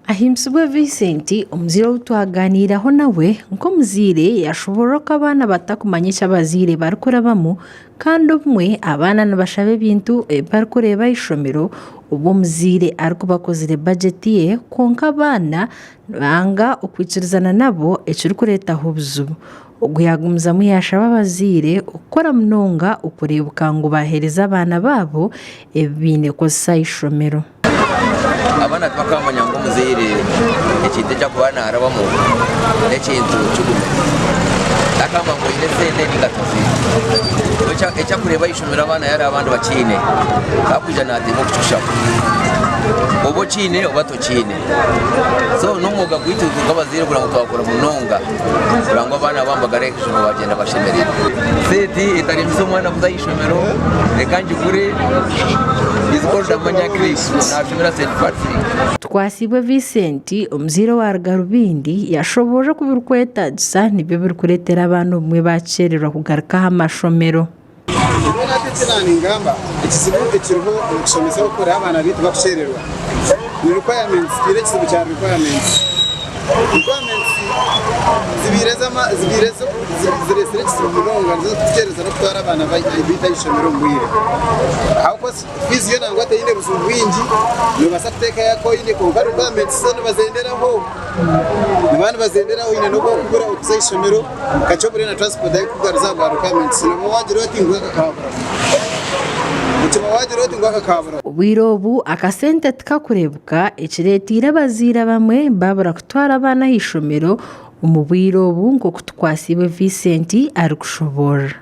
Ahimbisibwe Vincent, omuzaire ou twagaaniireho nawe nk'omuzaire yaashoboorora oku abaana batakumanya eki abazaire barikurabamu kandi obumwe abaana nibashaba ebintu ebi barikureeba aha ishomero obu omuzaire arikubakozire bajeti ye kwonka abaana Nanga okwikirizana nabo ekirikureetaho obuzibu. Ogwo yaagumizamu yaashaba abazaire okukora munonga okureebuka ngu baaheereza abaana baabo ebi baine kukozesa aha ishomero. Abaana tibakaamanya ngu omuzaire ekintu eki arikuba naarabamu n'ekintu kigume. Takaamanya ngu oine esente nainga tiziine. Eki arikureeba aha ishomero abaana yareeba abandi bakiine, akwija naateema okukikushaho. Oba okiine oba tokiine. Okiine? So n'omwoga gwaitu nk'abazaire kugira ngu twakura munonga kugira ngu abaana baabo bagarure aha ishomero baagyenda bashemereirwe. Seeti etaremisa omwana kuza aha ishomero reka ngigure is called Amanya Clip naashomera St. Patrick. Tukwasiibwe Vincent, omuzaire owa Rugarubindi, yashoboorora oku birikwetaagisa nibyo birikureetera abaana obumwe baakishererwa kugaruka aha mashomero. Nyowe naata eki naaningamba, ekizibu ekiriho omu kushomesa oku kurera abaana baitu bakukyererwa ni requirements. Twiine ekizibu kya requirements. Requirements zibaire zibaire zo zireetsire ekizibu munonga, nizo zirikututeereza n'okutwara abaana baitu aha ishomero omu bwire. Ahabw'okuba fiizi yo nangwa teine buzibu bwingi, noobaasa kuteekayo aku oine kwonka requirements zo nibazeenderaho, niba nibazenderaho oine n'obu orikubura okuza aha ishomero. Kakye buriya na transport ahi kukugaruza aha bwa requirements nabwo wagira oti ngu aka kaaburamu. Okiba wagira oti ngu aka kaaburamu. Obwire obu akasente tikakureebka ekireeteire abazaire abamwe baabura kutwara abaana aha ishomero omu bwire obu nk'oku Tukwatsibwe Vincent arikushoboorora.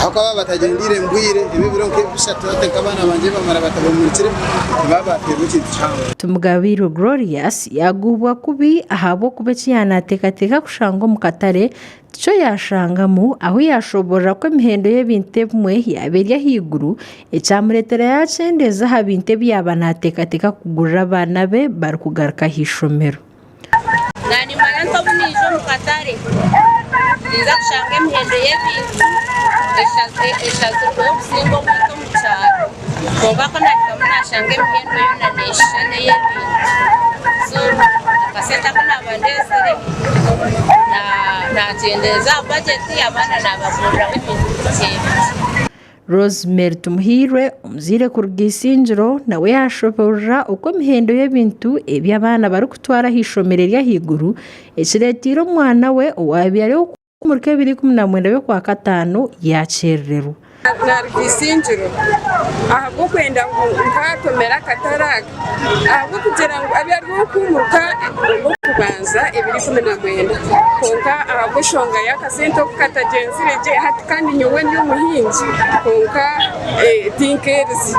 Ahabw'okuba baatagyendeire mu bwire, ebyo ebiro nk'ebi bishatu hati nk'abaana bangye baamara batabahumurikire, tibaba baateerwa ekintu kihango. Timugabiirwe Glorious yaagubwa kubi ahabw'okuba eki yaaba naateekateeka kushanga omu katare tikyo yaashangamu, ahu yaashoboorora ku emihendo y'ebintu ebimwe yaaba eri ahaiguru, ekyamureetera yaakyendeeza aha bintu ebi yaaba naateekateeka kugurira abaana be barikugaruka aha ishomero. Naanimanya nta obu naija omu katare? Ninza kushanga emihendo y'ebintu eshazirweho kusinga obwingi omu kyaro. Kwonka ku naahikamu naashanga emihendo yoona neeshushana n'ey'ebintu. So akasente aku naaba ndeetsire naakyendeeza aha bajeti, abaana naabaguriraho ebintu bikye bikye. Rosemary Tumuhirwe, omuzaire kuruga Isingiro nawe yaashoboorora oku emihendo y'ebintu ebi abaana barikutwara aha ishomero ery'ahaiguru ekireeteire omwana we owaabaire ari owa omuri Kebiri ikumi na mwenda y'Okwakataano yaakyerererwa. Naaruga Isingiro ahabw'okwenda ngu nkaatomera akatare aka. ahabw'okugira ngu abe ari ow'okuimuka ow'okubanza ebiro ikumi na mwenda. Kwonka ahabw'enshonga y'akasente oku katagyenzire gye, hati kandi nyowe ndi omuhingi kwonka tinkeerize.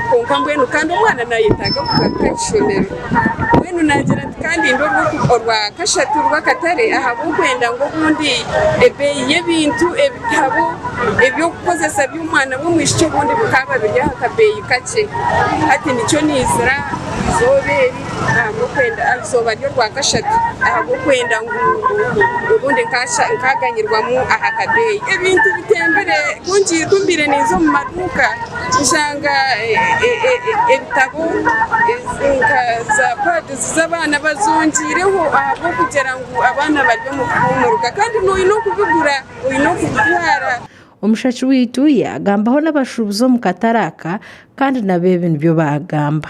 Kwonka mbwenu kandi omwana naayetaaga kugaruka aha ishomero. Mbwenu naagira nti. Kandi ndi orw'okuba orwa kashatu rw'akatare ahabw'okwenda ngu obundi ebeeyi y'ebintu ebitabo eby'okukozesa by'omwana w'omwishiki obundi bikaaba biri aha kabeeyi kakye. Hati nikyo niizira eizooba eri ahabw'okwenda, eizooba ry'orwa kashatu ahabw'okwenda ngu obundi nkaaganyirwamu aha kabeeyi. Ebintu bitembire, ku mbaire ninza omu maduuka. Tushanga ebitabo nka za padizi z'abaana bazongiireho ahabw'okugira ngu abaana bari omu kuhuumuruka kandi noine okubigura oine okubitwara. Omushaki waitu yaagambaho n'abashuubuzi omu katare aka kandi nabo ebi nibyo baagamba.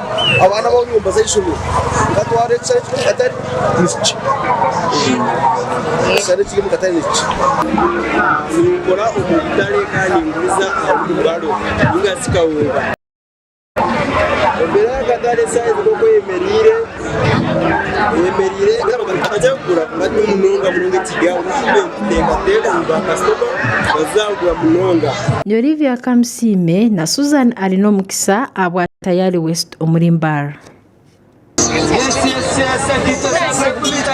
Abaana aba nyomba z'eishomero nkatwara ekisare ekiri omu katare nikikye. Ekisare ekiri omu katare nikikye. Ninkora omu butare kandi ninguriza aha wulibaro ninga shi kawunga. Embeera y'akatare saaha ezi nk'oku eyemereire, eyemereire abarikuza kugura bari munonga munonga ekigya nituteekateeka ngu baakasitoma baazagura munonga. Ni Olivia Kamusiime na Susan Arin'omukisa ahabwa. Tayari West omuri Mbarara.